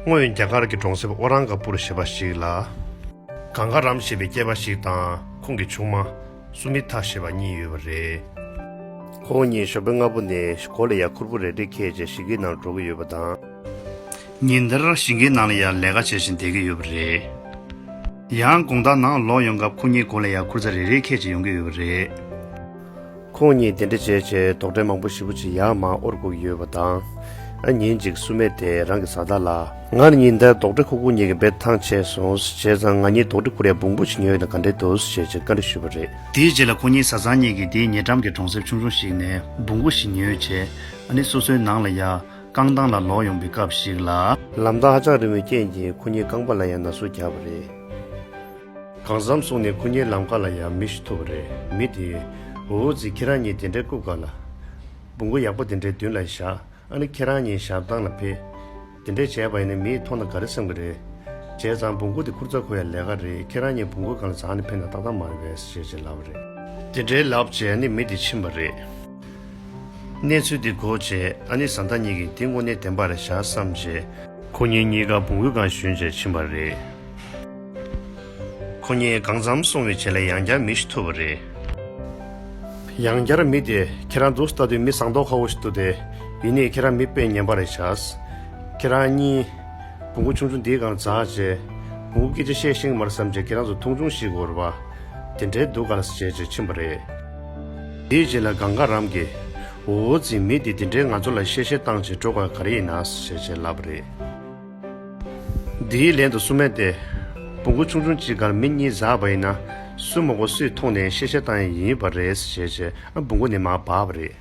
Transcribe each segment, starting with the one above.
སྔོན་རྒྱ་གར་གྱི་གྲོང་གསེབ་ཨོ་རང་ག་པུར་ཞེས་པ་ཞིག་ལ། གངྒྷ་རམ་ཞེས་པའི་སྐྱེས་པ་ཞིག་དང་ཁོང་གི་ཆུང་མ། སུ་མི་ཐ་ཞེས་པ་གཉིས་ཡོད་པ་རེད། ཁོང་གཉིས་ཞོགས་པའི་སྔ་པོ་ནས་གོ་ལ་ཡར་ཁུར་པོ་རེ་འབྲི་ཁེལ་རྗེས་ཞིང་ཁའི་ནང་འགྲོ་གི་ཡོད་པ་དང། ཉིན་དེར་ཞིང་ཁའི་ནང་ལ་ཡར་ལས་ཀ་བྱེད་བཞིན་བསྡད་ཀྱི་ཡོད་པ་རེད། ཡང་དགོང་དག་ནང་ལོག་ཡོང་སྐབས་ཁོང་གཉིས་གོ་ལ་ཡར་ཁུར་ཚ་རེ་རེ་ཁེལ་རྗེས་ཡོང་གི་ཡོད་པ་རེད། ཁོང་གཉིས་དེ་འདྲ་བྱས་བྱས་དོགས་འདྲེ་མང་པོ་ཤི་བོ་ཆེ་ཡག་མ་ཨོར་སྒུག་ཡོད་པ་དང། ཨ་ཉིན་གཅིག་བསུ་མེད་དེ་རང་གི་བཟའ་ཟླ་ལ། ངར་ཉིན་དེར་དོགས་འདྲེ་ཁོ་སྒུག་གཉིས་ཀྱི་འབེལ་ཐང་ཆད་སོང་བྱས་ཙང་ང་གཉིས་དོགས་འདྲེ་ཁུ་རས་སྦུག་སྦུག་བྱེད་ཉོས་ཡོད་ན་ག་འདྲེ་འདུག་ཟེར་བྱས་བྱས་བཀའ་འདྲི་ཞུས་པ་རེད། དེའི་རྗེས་ལ་ཁོ་གཉིས་བཟའ་ཚང་གཉིས་ཀྱིས་དེའི་ཉེ་འགྲམ་གྱི་གྲོང་གསེབ་ཆུང་ཆུང་ཞིག་ནས་སྦུག་སྦུག་བྱེད་ཉོས་བྱས་ཨ་ནི་སོ་སོའི་ནང་ལ་ཡང་རྐང་ཐང་ལ་ལོག་ཡོང་པའི་སྐབས་ཤིག་ལ། ལམ་ཐག་ཧ་ཅང་རིང་བའི་རྐྱེན་གྱིས་ཁོ་གཉིས་རྐང་པ་ལ་ཡང་ན་ཟུག་རྒྱག་པ་རེད། གང་བསམ་གསུང་ནས་སྐུ་ཉིད་ལམ་ཁ་ལ་ཡང་མི་ཞུ་ཐུབ་པ་རེད་མི་དེ། འུ་ཚིག་ཁྱེད་རང་གཉིས་དེ་འདྲའི་སྐུ་དཀར་ལ། སྦུ་གུ་ཡག་པོ་དེ་འདྲའི་མདུན་ལ་བཞག་ཨ་ནི་ཁྱེད་རང་གཉིས་ཞབས་ཐང་ལ་ཕེབས། དེ་འདྲས་བྱས་པ་ཡིན་ན་མིས་མཐོང་ན་ག་རེ་སེམས་ཀྱི་རེད། བྱས་ཙང་སྦུ་གུ་དེ་ཁུར་ཚར་ཁུར་ཡ་ལས་ཀ་རེད་ཁྱེད་རང་གཉིས་སྦུ་གུ་གང་ལ་བཟང་ནས་ཕེབས་ན་ཏག་ཏག་མ་རེད་བས་ཞེས་བྱས་ལབ་པ་རེད། དེ་འདྲའི་ལབ་བྱས་ཨ་ནི་མི་དེ་ཕྱིན་པ་རེད། གནས་ཚུལ་དེ་གོ་བྱས་ཨ་ནི་བཟའ་ཟླ་གཉིས་ཀྱིས་དེ་དངོས་གནས་བདེན་པ་རེད་བཞག་བསམ་བྱས། ཁོ་གཉིས་གཉིས་ཀ་སྦུ་གུ་གང་ཞུས་བྱས་ཕྱིན་པ་རེད། ཁོ་གཉིས་གང་འཚམ་སོང་བའི་ཆེད་ལས་ཡང་བསྐྱར་མི་ཞིག་ཐོས་པ་རེད། ཡང་བསྐྱར་མི་དེ་ཁྱེད་རང་འདུག་ལྟ་དུས་མི་བཟང་མདོག་ཁ་བོ་ཞིག་འདུག་དེ་ཡིན་ནའི་ཁྱེད་རང་མི་དཔེ་ངན་པ་རེད་བྱས། ཁྱེད་རང་གཉིས། བུ་མགོ་ཆུང་ཆུང་འདིས་གང་འཛག་བྱས། བུ་མགོ་སྐད་ཆ་བཤད་ཤིང་མར་བསམ་བྱས་ཁྱེད་རང་ཚོ་ཐུང་ཆུང་ཞིག་གོ་རེ་བ། དེ་འདྲའི་སྡུག་ག་ལ་སྲིད་བྱས་བྱས་ཕྱིན་པ་རེད། དེའི་རྗེས་ལ་གངས་དཀར་རམ་གྱིས། འོ་འོ་འཛིན་མི་དེ་དེ་འདྲའི་ང་ཚོ་ལ་གཤེ་གཤེ་བཏང་བྱས་སྤྲོ་དགའ་ག་རེ་ཡིན་ན་ཟེར་བྱས་བྱས་ལབ་པ་རེད། དེའི་ལན་དུ་བསུ་མེད་དེ། བུ་གུ་ཆུང་ཆུང་གཅིག་གར་མི་གཉིས་བཟའ་བ་ཡིན་ན། སུས་མག་པ་སུས་མཐོང་ནས་ཤེས་བྱ་བཏང་ཡས་ཡིན་བ་རེད་ཟེར་བྱས་བྱས་ཨ་བུ་གུ་ནི་མག་བག་བ་རེད།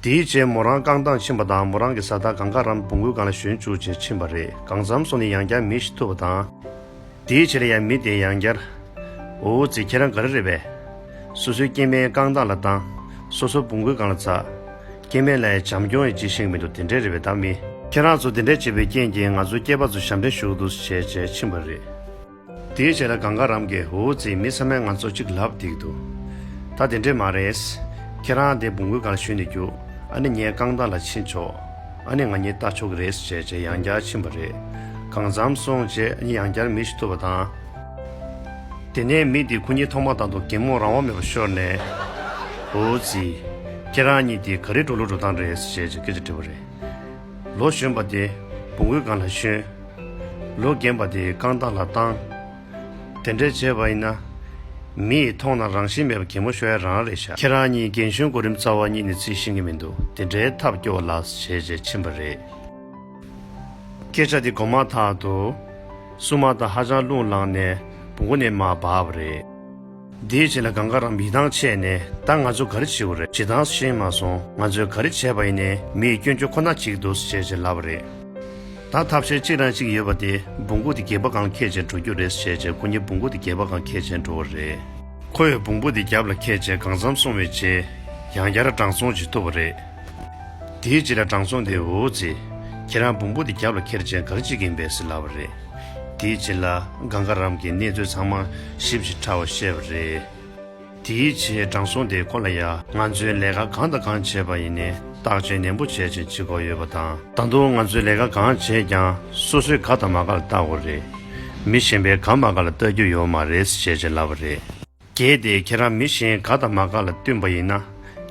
དེའི་རྗེས་མོ་རང་རྐང་ཐང་ཕྱིན་པ་དང་མོ་རང་གི་བཟའ་ཟླ་གང་དགའ་རམ་བུ་གུ་གང་ལ་ཞོན་བཅུག་ཅེས་ཕྱིན་བ་རེད་གང་བརྩམས་སོང་ནི་ཡང་བསྐྱར་མི་ཤི་ཐུབ་བ་དང། དེའི་ཕྱིར་ཡང་མི་དེ་ཡང་བསྐྱར། འོ་འོ་ཚེ་ཁྱེད་རང་ག་རེ་རེད་བས། སོ་སོའི་སྐྱེ་དམན་རྐང་ཐང་ལ་བཏང། སོ་སོ་བུང་གོས་གང་ལ་འཛག། སྐྱེ་དམན་ལ་ཡང་བྱམས་སྐྱོང་ཡི་ཅི་ཤེས་མི་འདུག་དེ་འདྲའི་རེ་བའི་བདག་མི། ཁྱེད་རང་ཚོ་དེ་འདྲས་བྱས་པའི་རྐྱེན་གྱིས་ང་ཚོ་སྐྱེས་པ་ཚོ་ཞབས་འདྲེན་ཞུགས་འདུག་བྱས་བྱས་ཕྱིན་པ་རེད། དེའི་ཕྱིར་ལ་གངས་དཀར་རམ་གྱི་འོ་འོ་ཚེ་མི་ཚང་མས་ང་ཚོ་གཅིག་ལབ་བསྡིགས་འདུག་ད་དེ་འདྲས་མ་རེད། ཁྱེད་རང་དེ་བུང་གོས་གང་ལ་ཞུས་ནས་རྒྱུགས་ཨ་ནི་ངའི་རྐང་ཐང་ལ་ཕྱིན་ཆོག། ཨ་ནེ་ང་གཉིས་ལྟ་ཆོག་གི་རེད་ཟེར་བྱས་རྗེས་ཡང་བསྐྱར་ཕྱིན་པ་རེད། གང་བརྩམས་སོང་རྗེས་ཨ་ནེ་ཡང་བསྐྱར་མིག་ཞིག་གཏུབ་པ་དང། དེ་ནས་མི་དེས་ཁོ་གཉིས་ཐོག་མ་དང་དུ་གད་མོ་རང་དབང་མེད་པར་ཤོར་ནས། བུ་རྫི། ཁྱེད་རང་གཉིས་དེ་ག་རེ་འགྲོ་ལུགས་འགྲོ་སྟངས་རེད་ཟེར་བྱས་རྗེས་སྐད་ཆ་དྲིས་པ་རེད། ལོ་གཞོན་པ་དེ་བུ་མགུལ་སྒང་ལ་ཞོན། ལོ་རྒན་པ་དེ་རྐང་ཐང་ལ་བཏང། དེ་འདྲས་བྱས་པ་ཡིན་ན། མི་ཡིས་མཐོང་ན་རང་བཞིན་མེད་པ་གད་མོ་ཤོར་ཡ་རང་རེད་ཤག་ཁྱེད་རང་གཉིས་རྒན་གཞོན་གོ་རིམ་རྩ་བ་གཉིས་ནས་རྩིས་ཤེས་ཀྱི་མི་འདུག་དེ་འདྲའི་ཐབས་སྐྱོ་བ་ལགས་བྱས་རྗེས་ཕྱིན་པ་རེད། སྐད་ཆ་དེ་གོ་མ་ཐག་ཏུ། སྲུང་མ་དང་ཧ་ཅང་རླུང་ལངས་ནས་བུ་མགོ་ནས་མར་བབས་པ་རེད། དེའི་རྗེས་ལ་གང་དགའ་རང་མི་ཐང་ཆད་ནས་ད་ང་ཚོ་ག་རེ་བྱེད་བ་རེད་ཇི་ལྟར་ཤེས་མ་སོང་ང་ཚོས་ག་རེ་བྱས་པ་ཡིན་ནས་མི་ཡི་སྐྱོན་བརྗོད་ཁོ་ན་གཅིག་འདུག་ཟེར་བྱས་ལབ་པ་རེད། ད་ཐབས་ཤེས་གཅིག་རང་གཅིག་ཡོད་པ་དེ་འབུངས་སྐུ་དེ་རྒྱས་པ་གང་ཁྱེད་ཅན་འགྲོ་རྒྱུ་རེད་ཟེར་བྱས་སྐུ་ཉིད་འབུངས་སྐུ་དེ་རྒྱས་པ་གང་ཁྱེད་ཅན་འགྲོ་བ་རེད། ཁོ་ཡི་འབུངས་སྐུ་དེ་རྒྱབ་ལ་ཁྱེད་ཅན་གང་འཚམས་སོང་བའི་རྗེས་ཡང་བསྐྱར་བགྲང་སོང་བྱེད་ཐུབ་པ་རེད། དེའི་རྗེས་ལ་བགྲང་སོང་དེ་འོ་ཙི། ཁྱེད་རང་འབུངས་སྐུ་དེ་རྒྱབ་ལ་ཁྱེར་ཅན་ག་རེ་བྱེད་ཀྱིན་པས་ཟེར་ལབ་པ་རེད། དེའི་རྗེས་ལ་གངྒཱ་རམ་གྱི་གནས་ཚུལ་ཚང་མ་ཞིབ་ཅིང་ཕྲ་བར་བཤད་པ་རེད། དེའི་རྗེས་དྲང་སྲོང་དེ་ཁོ་ལ་ཡ། ང་ཚོས་ལས་ཀ་གང་དང་གང་བྱས་པ་ཡིན་ནས་བརྟག་དཔྱད་ནན་པོ་བྱས་ཅིང་ཅི་གོ་ཡོད་པ་དང། ད་དུང་ང་ཚོས་ལས་ཀ་གང་བྱས་ཀྱང་སོ་སོའི་ག་དང་མ་ག་ལ་བལྟ་དགོས་རེད། མི་གཞན་པའི་ག་མ་ག་ལ་བལྟ་རྒྱུ་ཡོད་མ་རེད་ཟེར་བྱས་ལབ་པ་རེད། གལ་ཏེ་ཁྱེད་རང་མི་གཞན་དགའ་དང་མ་དགའ་ལ་བསྟུན་པ་ཡིན་ན།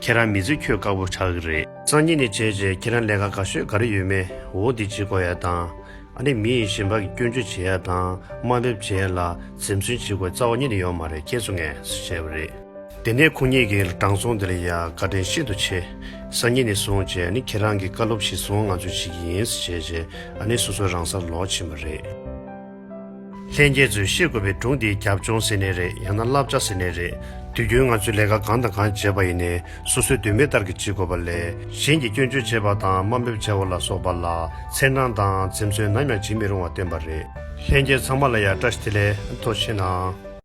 ཁྱེད་རང་མི་ཚེ་ཁྱོད་དགའ་བོ་ཆགས་ཀྱི་རེད། སང་ཉིན་ནས་བྱས་རྗེས་ཁྱེད་རང་ལས་ཀ་ག་ཤོད་ག་རེ་ཡོད་མེད་འོ་འདི་བྱེད་དགོས་ཡ་དང། ཨ་ནི་མི་ཡི་ཞེན་པ་གི་སྐྱོན་བརྗོད་བྱེད་ཡ་དང་དམའ་འབེབས་བྱེད་ཡ་ལ་ཟིམ་ཟུན་བྱེད་དགོས་རྩ་བ་ཉིད་ནས་ཡོད་མ་རེད་ཁྱེད་ཚོ་ངས་སུ་བྱས་པ་རེད། དེ་ནས་ཁོང་གཉིས་ཀྱིས་དྲང་སྲོང་དེ་ལ་ཡ་བཀའ་དྲིན་ཤིན་ཏུ་ཆེ། སང་ཉིན་ནས་བཟུང་བྱས་ཨ་ནི་ཁྱེད་རང་གི་བཀའ་སློབ་བཞིན་སོང་ང་ཚོས་བྱེད་ཀྱི་ཡིན་སུ་བྱས་རྗེས་ཨ་ནི་སོ་སོ་རང་སར་ལོག་ཕྱིན་པ་རེད། ལྷན་རྒྱས་ཚོས་ཤེས་དགོས་པའི་སྒྲུང་འདིའི་རྒྱབ་ལྗོངས་ཟེར་ནི་རེད་ཡང་ན་བསླབ་བྱ་ཟེར་ནི་རེད། དུས་རྒྱུན་ང་ཚོས་ལས་ཀ་གང་དང་གང་བྱེད་པ་ཡིན་ནའི་སོ་སོའི་འདོད་མོས་ལྟར་གྱི་བྱེད་དགོས་པ་ལས་གཞན་གྱིས་སྐྱོན་བརྗོད་བྱེད་པ་དང་དམའ་འབེབས་བྱ་བ་ལ་སོགས་པ་ལ་འཚེར་སྣང་དང་འཛེམ་ཟོན་ནམ་ཡང་བྱེད་མི་རུང་བ་བསྟན་པ་རེད། ལྷན་རྒྱས་ཚང་མ་ལ་ཡང་བཀྲ་ཤིས་བདེ་ལེགས་མཐོ་ཆེ་གནང།